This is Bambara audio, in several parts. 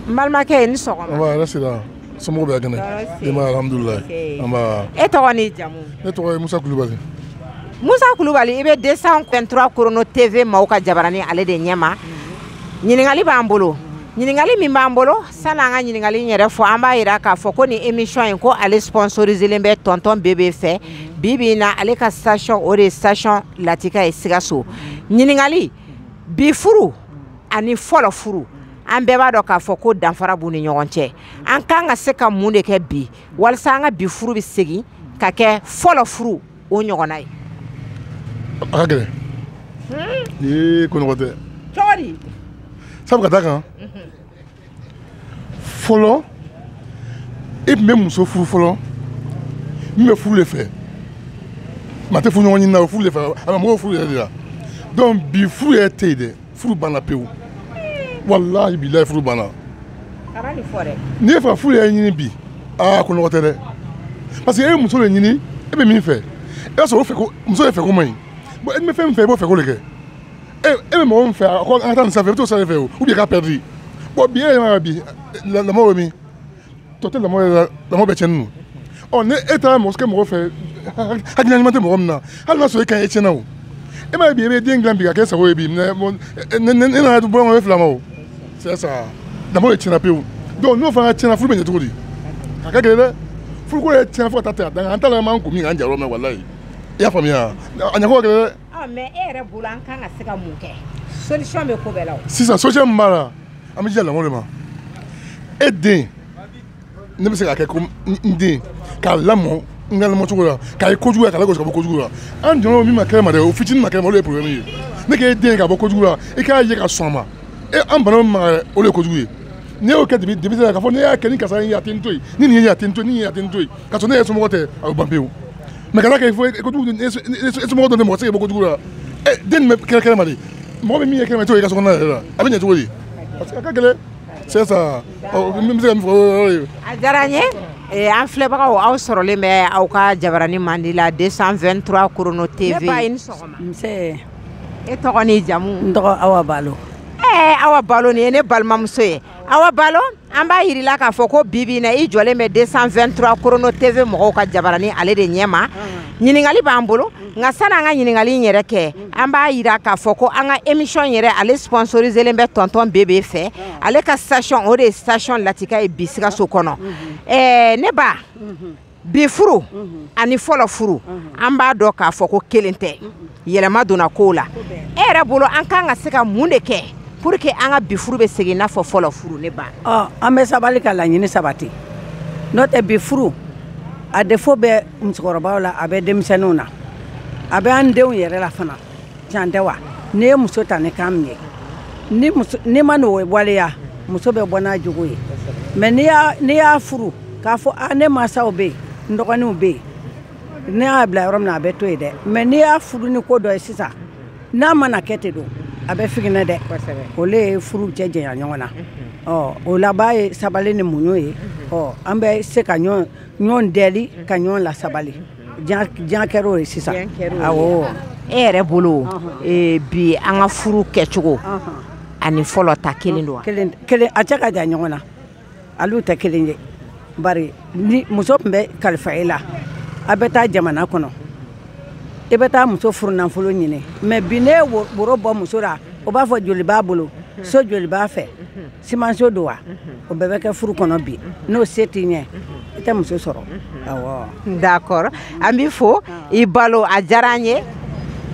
n balimakɛ i ni sɔgɔma nba hɛrɛ sira somɔgɔw bɛ kɛnɛ denbaya alhamdulilayi nba e tɔgɔ ni jamu ne tɔgɔ ye musa kulubali musa kulubali i bɛ 223 korono tv maaw ka jabarani ale de ɲɛma ɲininkali b'an bolo ɲininkali min b'an bolo sani an ka ɲininkali in yɛrɛ fɔ an b'a yira k'a fɔ ko nin emisiyɔn in ko ale sponsoriselen bɛ tɔntɔn bebe fɛ bi bi in na ale ka station o de ye station latika ye sikaso ɲininkali bi furu ani fɔlɔ furu an bɛɛ b'a dɔn k'a fɔ ko danfara b'u ni ɲɔgɔn cɛ an kan ka se ka mun de kɛ bi walasa an ka bi furu bɛ segin ka kɛ fɔlɔ furu o ɲɔgɔnna ye a ka gɛlɛn ee ko nɔgɔ tɛ cogo di sabu ka d'a kan fɔlɔ e tun bɛ muso furu fɔlɔ min bɛ furu de fɛ maa tɛ furu ɲɔgɔn ɲini na o furu de fɛ a bɛ mɔgɔw furu yɛrɛ de la donc bi furu yɛrɛ tɛ yen dɛ furu banna pewu walahi bilayi furu banna n'i y'a fɛ ka furu yɛrɛ ɲini bi aa ko nɔgɔ tɛ dɛ parce que e ye muso de ɲini e bɛ min fɛ e b'a sɔrɔ o fɛ ko muso de fɛ ko man ɲi bon e bɛ fɛn min fɛ i b'o fɛ ko de kɛ e e bɛ mɔgɔ min fɛ a ko an ka taa nin fan fɛ i bɛ t'o fan fɛ o ou bien k'a perdre bon bi e yɛrɛ ma bi lamɔ bɛ min tɔ tɛ lamɔ yɛrɛ la lamɔ bɛ tiɲɛnen don ɔ ni e taara mɔgɔ kɛ mɔgɔ fɛ hakilina ɲuman tɛ mɔgɔ min na hali n'a sɔrɔ e ka e tiɲɛna o e m'a ye bi e bɛ den dilan bi ka kɛ sago ye bi mais ne nana bɔ ɲɔgɔn fila ma o c'est ça lamɔ de tiɲɛna pewu donc n'o fana tiɲɛna furu bɛ ɲɛ cogo di a ka gɛlɛn dɛ furuko yɛrɛ tiɲɛna fo ka taa tɛmɛ a dan kan an t'a la an b'an kun min k'an jayɔrɔ mɛn walayi i y'a faamuya a ɲɛfɔ ka gɛlɛn dɛ Ah, mais e yɛrɛ bolo an kan ka se ka mun kɛ solution bɛ ko bɛɛ la o sisan solution min b'a la an bɛ jija lamɔ de ma e den ne bɛ se k'a kɛ ko n den k'a lamɔ n ka lamɔ cogo la k'a ye kojugu la k'a lagosi ka bɔ kojugu la an jɔnna min ma kɛnɛ ma dɛ o fitinin ma kɛnɛ ma o de ye problème ye ne k'e den ka bɔ kojugu la i k'a ye ka sɔn a ma e an banna min ma dɛ o de ye kojugu ye n'i y'o kɛ dibi dibi la k'a fɔ ne y'a kɛ ni karisa ye a tɛ n to yen ni nin ye a tɛ n to yen ni nin ye a tɛ n to yen k'a sɔrɔ ne yɛrɛ somɔgɔ tɛ a bɛ ban pewu mais kana kɛ fo e somɔgɔ dɔ bɛ mɔgɔ se ka bɔ kojugu la den bɛ kɛlɛ kɛnɛ ma de mɔgɔ bɛ min ye kɛnɛ ma to i ka so kɔnɔna yɛrɛ la a bɛ ɲɛ cogo di parce que a ka gɛlɛn c'est ça n bɛ se ka min fɔ o yɔrɔ ye a diyara n ye Eh, an filɛbagaw aw sɔrɔlen bɛ aw ka jabarani mandi la 223 korono tv ne ba i ni sɔgɔma nse e tɔgɔ n'i jamu n tɔgɔ awa balo ee eh, awa balo nin ye ne balimamuso ye awa balo an b'a yir'i la k'a fɔ ko bi bi in na i jɔlen bɛ 223 korono tv mɔgɔw ka jabarani ale de ɲɛma ɲininkali b'an bolo nka sani an ka ɲininkali in yɛrɛ kɛ an b'a yira k'a fɔ ko an ka émission yɛrɛ ale sponsoriselen bɛ tɔntɔn bebe fɛ ale ka station o de ye station latika ye bi sikaso kɔnɔ ɛɛ ne ba bi furu ani fɔlɔ furu an b'a dɔn k'a fɔ ko kelen tɛ yɛlɛma donna kow la e yɛrɛ bolo an kan ka se ka mun de kɛ pour que an ka bi furu bɛ segin n'a fɔ fɔlɔ furu ne ba an bɛ sabali ka laɲini sabati n'o tɛ bi furu a défaut bɛ musokɔrɔbaw la a bɛ denmisɛnninw na a bɛ an denw yɛrɛ la fana Can tɛ wa n'i ye muso ta ni kan min ye n'i ma n'o waleya muso bɛ bɔ n'a jogo ye mais n'i y'a furu k'a fɔ ah, ne mansaw bɛ yen n dɔgɔninw bɛ yen ne y'a bila yɔrɔ min na a bɛ to yen dɛ mais n'i y'a furu ni ko dɔ ye sisan n'a mana kɛ ten don a bɛ figinɛ dɛ olu ye furu cɛ janya ɲɔgɔn na ɔ o laban ye sabali ni muɲu ye ɔ an bɛ se ka ɲɔgɔn deli ka ɲɔgɔn lasabali diɲɛ kɛr'o ye sisan awo e yɛrɛ bolo e, bi an ka furu kɛcogo ani fɔlɔ ta kelen don a cɛ ka jan ɲɔgɔn na olu tɛ kelen ye bari ni muso tun bɛ kalifa e la a bɛ taa jamana kɔnɔ i bɛ taa muso furu nafolo ɲini mais bi n'i ye woro bɔ muso la o b'a fɔ joli b'a bolo so joli b'a fɛ simanso don wa o bɛɛ bɛ kɛ furu kɔnɔ bi n'o se t'i ɲɛ i tɛ muso sɔrɔ awɔ d'accord an b'i fo i balo a diyara an ye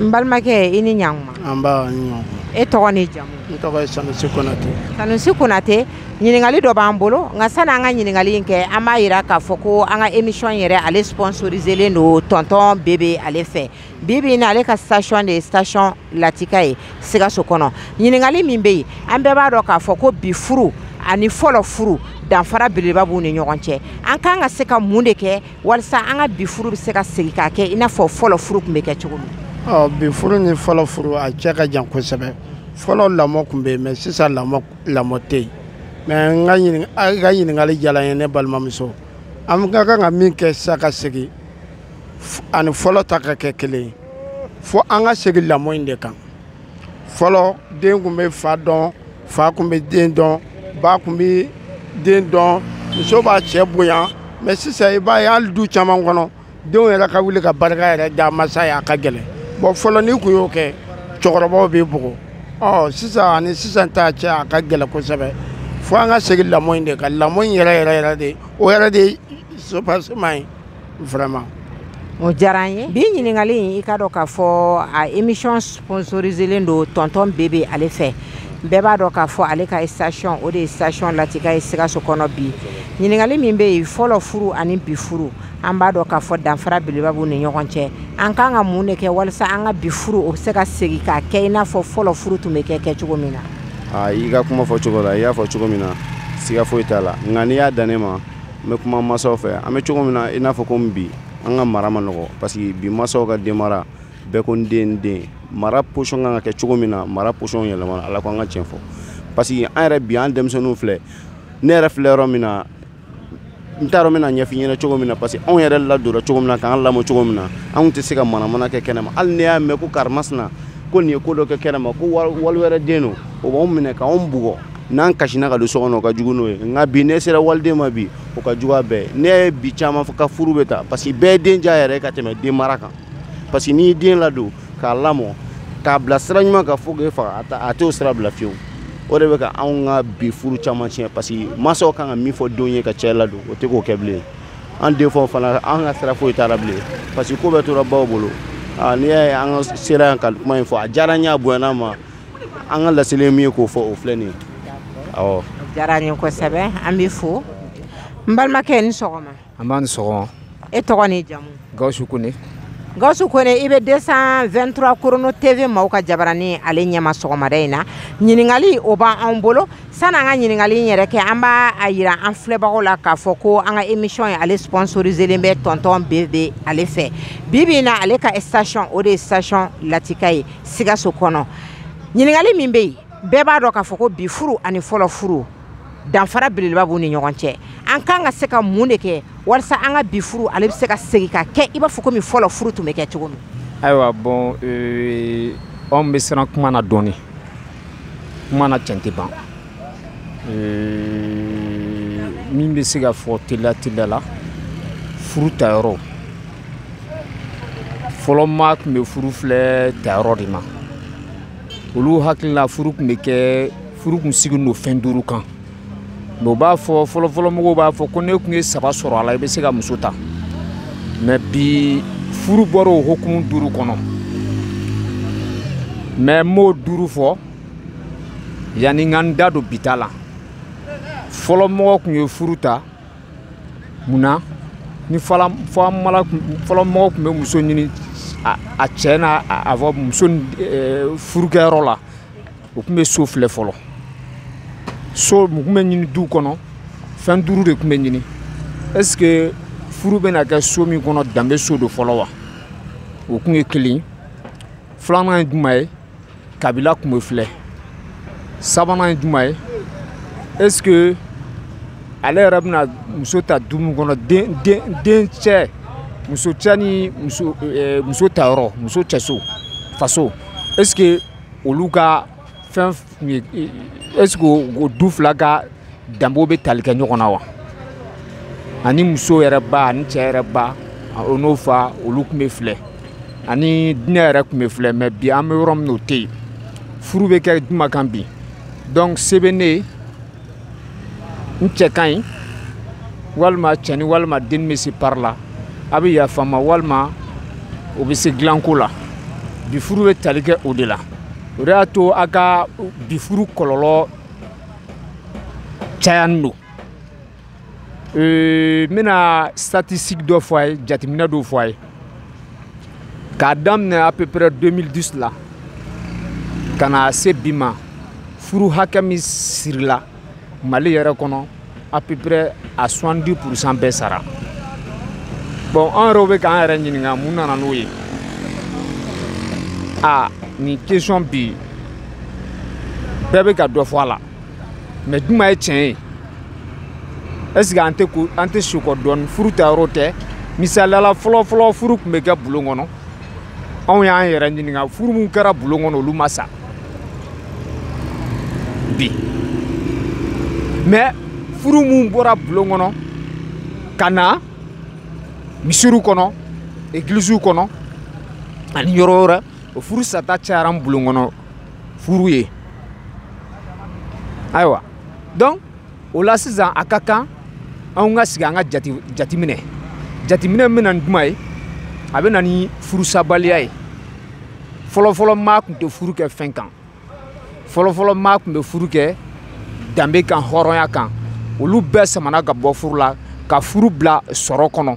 n balimakɛ i ni ɲankuma nba i ni ɲankuma e tɔgɔ ni jamu n tɔgɔ ye sanusi konate sanusi konate ɲininkali dɔ b'an bolo nka sani an ka ɲininkali in kɛ an b'a yira k'a fɔ ko an ka émission yɛrɛ ale sponsoriselen don tonton bebe ale fɛ bi bi in ale ka station de ye station latika ye sikaso kɔnɔ ɲininkali min bɛ yen an bɛɛ b'a dɔn k'a fɔ ko bi furu ani fɔlɔ furu danfara belebeleba b'u ni ɲɔgɔn cɛ an kan ka se ka mun de kɛ walisa an ka bi furu bɛ se ka segin k'a kɛ i n'a fɔ fɔlɔ furu tun bɛ kɛ cogo min bi furu ni fɔlɔ furu a cɛ ka jan kosɛbɛ fɔlɔ lamɔ tun bɛ yen mais sisan lamɔ lamɔ tɛ yen mais n ka ɲininka a ka ɲininkali diyara n ye ne balimamuso an ka kan ka min kɛ sisan ka segin ani fɔlɔ ta ka kɛ kelen ye fo an ka segin lamɔ in de kan fɔlɔ den tun bɛ fa dɔn fa tun bɛ den dɔn ba tun bɛ den dɔn muso b'a cɛ bonya mais sisan i b'a ye hali du caman kɔnɔ denw yɛrɛ ka wuli ka barika yɛrɛ da masa ye a ka gɛlɛn bon fɔlɔ n'i tun y'o kɛ cɛkɔrɔbaw b'i bugɔ ɔ sisan ani sisan ta cɛ a ka gɛlɛn kosɛbɛ fo an ka segin lamɔ in de kan lamɔ in yɛrɛ yɛrɛ yɛrɛ de o yɛrɛ de ye sopasima ye vraiment o diyara an ye bi ɲininkali in i k'a dɔn k'a fɔ a émission sponsoriselen don tonton bebe ale fɛ bɛɛ b'a dɔn k'a fɔ ale ka station o de ye station latika ye sikaso kɔnɔ bi ɲininkali min bɛ yen fɔlɔ furu ani bi furu an b'a dɔn k'a fɔ danfara belebeleba b'u ni ɲɔgɔn cɛ an kan ka mun de kɛ walasa an ka bi furu o bɛ se ka segin k'a kɛ i n'a fɔ fɔlɔ furu tun bɛ kɛ kɛ cogo min na. i ka kuma fɔ cogo la i y'a fɔ cogo min na siga foyi t'a la nka n'i y'a dan ne ma n bɛ kuma masaw fɛ an bɛ cogo min na i n'a fɔ komi bi an ka mara man nɔgɔ parce que bi masaw ka denmara bɛɛ ko n den n den mara position kan ka kɛ cogo min na mara position yɛlɛmana ala ko an ka tiɲɛ fɔ parce que an yɛrɛ bi an denmisɛnninw filɛ ne yɛrɛ filɛ yɔrɔ min na n t'a dɔn n bɛna ɲɛf'i ɲɛna cogo min na parce que anw yɛrɛ ladonna cogo min na k'an lamɔ cogo min na anw tɛ se ka manamana kɛ kɛnɛma hali n'i y'a mɛn ko karimasina ko nin ye ko dɔ kɛ kɛnɛma ko wali wɛrɛ den don o b'anw minɛ k'anw bugɔ n'an kasina ka don so kɔnɔ o ka jugu n'o ye nka bi n'i sera waliden ma bi o ka jugu a bɛɛ ne ye bi caman fɔ ka furu bɛ ta parce que bɛɛ den diya yɛrɛ ka tɛmɛ den mara kan parce que n'i ye den ladon k'a lamɔ k'a bila sira ɲuman kan fo k'e faga a t'o sira bila fiyewu o de bɛ ka anw ka bi furu caman tiɲɛ parce que mansaw kan ka min fɔ denw ye ka cɛ ladon o tɛ k'o kɛ bilen an denfaw fana an ka sira foyi t'a la bilen parce que ko bɛɛ tora baw bolo n'i y'a ye an ka sera yan ka kuma in fɔ a diyara n ye a bonyana n ma an ka laseli ye min ye k'o fɔ o filɛ nin ye awɔ diyara n ye kosɛbɛ an b'i fo n balimakɛ i ni sɔgɔma nba i ni sɔgɔma e tɔgɔ ni jamu gawusu kone gawusu kone i bɛ 223 korono tv maaw ka jabaranin ale ɲɛma sɔgɔmada in na ɲininkali o b'an bolo sani an ka ɲininkali in yɛrɛ kɛ an b'a a yira an filɛbagaw la k'a fɔ ko an ka émission in ale sponsoriselen bɛ tonton bebe ale fɛ bi bi in na ale ka station o de ye station latika ye sikaso kɔnɔ ɲininkali min bɛ yen bɛɛ b'a dɔn k'a fɔ ko bi furu ani fɔlɔ furu danfara belebeleba b'u ni ɲɔgɔn cɛ an kan ka se ka mun de kɛ walasa an ka bi furu ale bɛ se ka segin ka kɛ i b'a fɔ komi fɔlɔ furu tun bɛ kɛ cogo min ayiwa bon anw bɛ siran kuma na dɔɔnin kuma na cɛn tɛ ban min bɛ se ka fɔ teliya teliya la furu tayɔrɔ fɔlɔ maa tun bɛ furu filɛ tayɔrɔ de ma olu hakili la furu tun bɛ kɛ furu tun sigilen don fɛn duuru kan mais u b'a fɔ fɔlɔfɔlɔmɔgɔw b'a fɔ ko n'i tun ye saba sɔrɔ a la i bɛ se ka muso ta mais bi furu bɔra o hukumu duuru kɔnɔ mais n b'o duuru fɔ yanni n ka n da don bi ta la fɔlɔ mɔgɔ tun ye furu ta mun na ni fɔlɔ mɔgɔ tun bɛ muso ɲini a cɛ n'a a fɔ muso furukɛyɔrɔ la o tun bɛ so filɛ fɔlɔ so mun tun bɛ ɲini du kɔnɔ fɛn duuru de tun bɛ ɲini est ce que furu bɛna kɛ so min kɔnɔ danbe so don fɔlɔ wa o tun ye kelen filanan ye juman ye kabila tun bɛ filɛ sabanan ye juman ye est ce que ale yɛrɛ bɛna muso ta du min kɔnɔ den den den cɛ muso cɛ ni muso eh, muso tayɔrɔ muso cɛso faso est ce que olu ka fɛn est-ce que du fila ka danbew bɛ tali kɛ ɲɔgɔn na wa ani muso yɛrɛ ba ani cɛ yɛrɛ ba o n'o fa olu tun bɛ filɛ ani diinɛ yɛrɛ tun bɛ filɛ mais bi an bɛ yɔrɔ min na o tɛ yen furu bɛ kɛ juma kan bi donc se bɛ ne ye n cɛ ka ɲi walima cɛni walima den bɛ se pari la a bɛ yafa n ma walima o bɛ se dilanko la bi furu bɛ tali kɛ o de la o de y'a to a ka bi furu kɔlɔlɔ cayani don n bɛna statistique dɔ fɔ a ye jateminɛ dɔw fɔ a ye k'a daminɛ à peu près 2010 la ka na se bi ma furu hakɛ min sirila mali yɛrɛ kɔnɔ à peu près à 70 pourcent bɛɛ sara bon an yɛrɛw bɛ k'an yɛrɛ ɲininka mun nana n'o ye a nin question bi bɛɛ bɛ ka dɔ fɔ a la mais juma ye tiɲɛ ye est ce que an tɛ segin kɔ dɔɔni furu ta yɔrɔ tɛ misaliya la fɔlɔ fɔlɔ furu tun bɛ kɛ bulon kɔnɔ anw y'an yɛrɛ ɲininka furu min kɛra bulon kɔnɔ olu ma sa bi mais furu min bɔra bulon kɔnɔ ka na misiriw kɔnɔ egilisiw kɔnɔ ani yɔrɔ wɛrɛ o furu sata cayara ni bulon kɔnɔ furu ye ayiwa donc o la sisan a ka kan anw ka sigi an ka jate minɛ jateminɛ min bɛna ni juma ye a bɛ na ni furusabaliya ye fɔlɔfɔlɔ maa tun tɛ furu kɛ fɛn kan fɔlɔfɔlɔ maa tun bɛ furu kɛ danbe kan hɔrɔnya kan olu bɛɛ samana ka bɔ furu la ka furu bila sɔrɔ kɔnɔ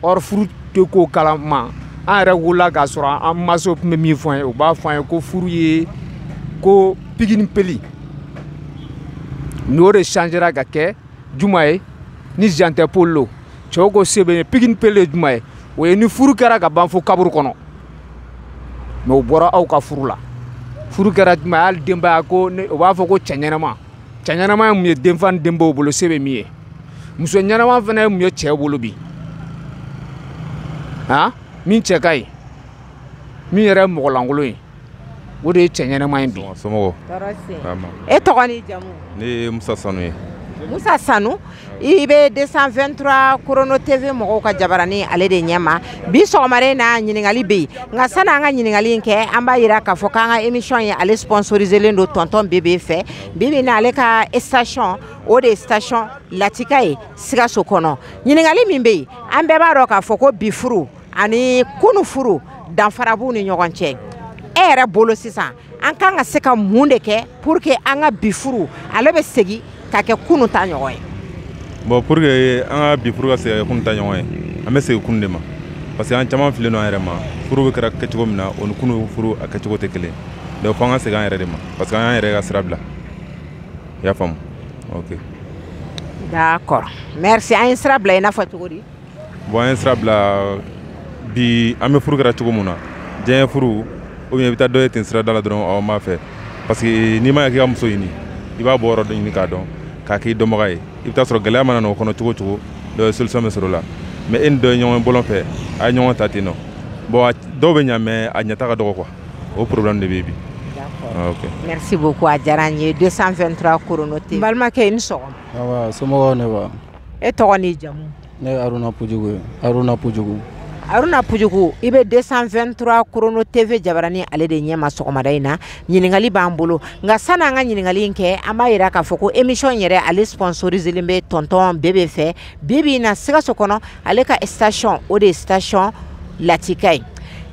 or furu tɛ ko kalama an yɛrɛ wolola k'a sɔrɔ an masaw tun bɛ min fɔ an ye u b'a fɔ an ye ko furu ye ko pigi ni peli n'o de changera ka kɛ juma ye ni jan tɛ poli lo cɛw ko se bɛ ye pigi ni peli ye juma ye o ye ni furu kɛra ka ban fo kaburu kɔnɔ mais o bɔra aw ka furu la furu kɛra juma ye hali denbaya ko o b'a fɔ ko cɛ ɲɛnama cɛ ɲɛnama ye mun ye denfa ni denbaw bolo se bɛ min ye muso ɲɛnama fana ye mun ye cɛ bolo bi han min cɛ ka ɲi min yɛrɛ ye mɔgɔlankolon ye o de ye cɛ ɲɛnama ye bi somɔgɔw e tɔgɔ ni jamu ne ye musa sanu ye musa sanu i bɛ 223 chrono tv mɔgɔw ka jabarani ale de ɲɛma bi sɔgɔmada na ɲininkali bɛ yen nka sani an ka ɲininkali in kɛ an b'a yira k'a fɔ k'an ka émission ye ale sponsoriselen don tonton bebe fɛ bi bi na ale ka station o de ye station latika ye sikaso kɔnɔ ɲininkali min bɛ yen an bɛɛ b'a dɔn k'a fɔ ko bi furu ani kunu furu danfara b'u ni ɲɔgɔn cɛ e yɛrɛ bolo sisan an kan ka se ka mun de kɛ pour que an ka bi furu ale bɛ segin ka kɛ kunu ta ɲɔgɔn ye bon pour que an ka bi furu ka segin ka kɛ kunu ta ɲɔgɔn ye an bɛ segin kunu de ma parce que an caman filen don an yɛrɛ ma furu bɛ kɛra kɛcogo min na o ni kunu furu a kɛcogo tɛ kelen donc fo an ka segin an yɛrɛ de ma parce que an y'an yɛrɛ ka sira bila i y'a faamu ok d'accord merci an ye sira bila i n'a fɔ cogo di bon an ye sira bila bi an bɛ furu kɛra cogo min na diyanye furu ou bien i bɛ taa dɔ ye ten sirada la dɔrɔn aw m'a fɛ parce que n'i ma ya k'i ka muso ɲini i b'a bɔ yɔrɔ dɔ ɲini k'a dɔn k'a k'i dɔnbaga ye i bɛ taa sɔrɔ gɛlɛya mana na o kɔnɔ cogo o cogo dɔ ye solution bɛ sɔrɔ o la mais e ni dɔ ye ɲɔgɔn bɔlɔn fɛ a ye ɲɔgɔn ta ten nɔ bon dɔw bɛ ɲa mais a ɲɛta ka dɔgɔ quoi o problème de bɛ yen bi ah, ok merci beaucoup a diyara n ye 223 korono tv n balimakɛ i ni sɔgɔma awa somɔgɔw ne wa e tɔgɔ n'i jamu ne ye aruna pujugu ye aruna pujugu aruna pujugu i bɛ 223 korono tv jabaranin ale de ɲɛma sɔgɔmada in na ɲininkali b'an bolo nka sani an ka ɲininkali in kɛ an b'a yira k'a fɔ ko émission yɛrɛ ale sponsoriselen bɛ tɔntɔn bebe fɛ bi bi in na sikaso kɔnɔ ale ka station o de ye station latika ye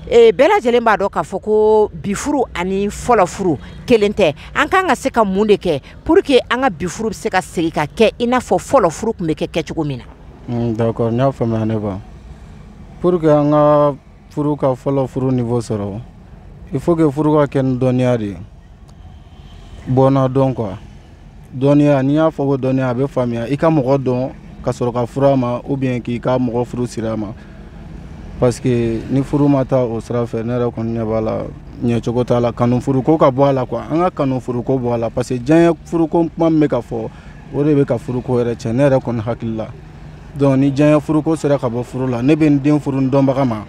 e, bɛɛ lajɛlen b'a dɔn k'a fɔ ko bi furu ani fɔlɔ furu kelen tɛ an kan ka se ka mun de kɛ pour que an ka bi furu bɛ se ka segin ka kɛ i n'a fɔ fɔlɔ furu tun bɛ kɛ kɛcogo min na. Mm, d'accord n y'a faamuya ne ba pour que an ka furu ka fɔlɔ furu niveau sɔrɔ il faut que furu ka kɛ ni dɔnniya de ye bɔnna dɔn quoi dɔnniya n'i y'a fɔ ko dɔnniya a bɛ faamuya i ka mɔgɔ dɔn ka sɔrɔ ka furu a ma ou bien k'i ka mɔgɔ furu siri a ma. parce que ni furu ma taa o sira fɛ ne yɛrɛ kɔni ɲɛ b'a la ɲɛcogo t'a la kanu furuko ka bɔ a la quoi an ka kanu furuko bɔ a la parce que diyanye furuko kuma min bɛ ka fɔ o de bɛ ka furuko yɛrɛ tiɲɛ ne yɛrɛ kɔni hakili la donc ni diyanye furuko sera ka bɔ furu la ne bɛ n den furu n dɔnbaga ma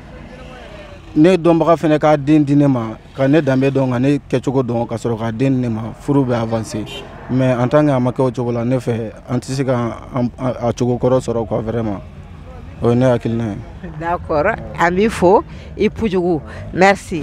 ne dɔnbaga fana k'a den di ne ma ka ne danbe dɔn ka ne kɛcogo dɔn ka sɔrɔ k'a den di ne ma furu bɛ avancer mais en tant que a ma kɛ o cogo la ne fɛ an tɛ se ka a cogo kɔrɔ sɔrɔ quoi vraiment o ye ne hakilina ye d'accord an b'i fo i pujugu merci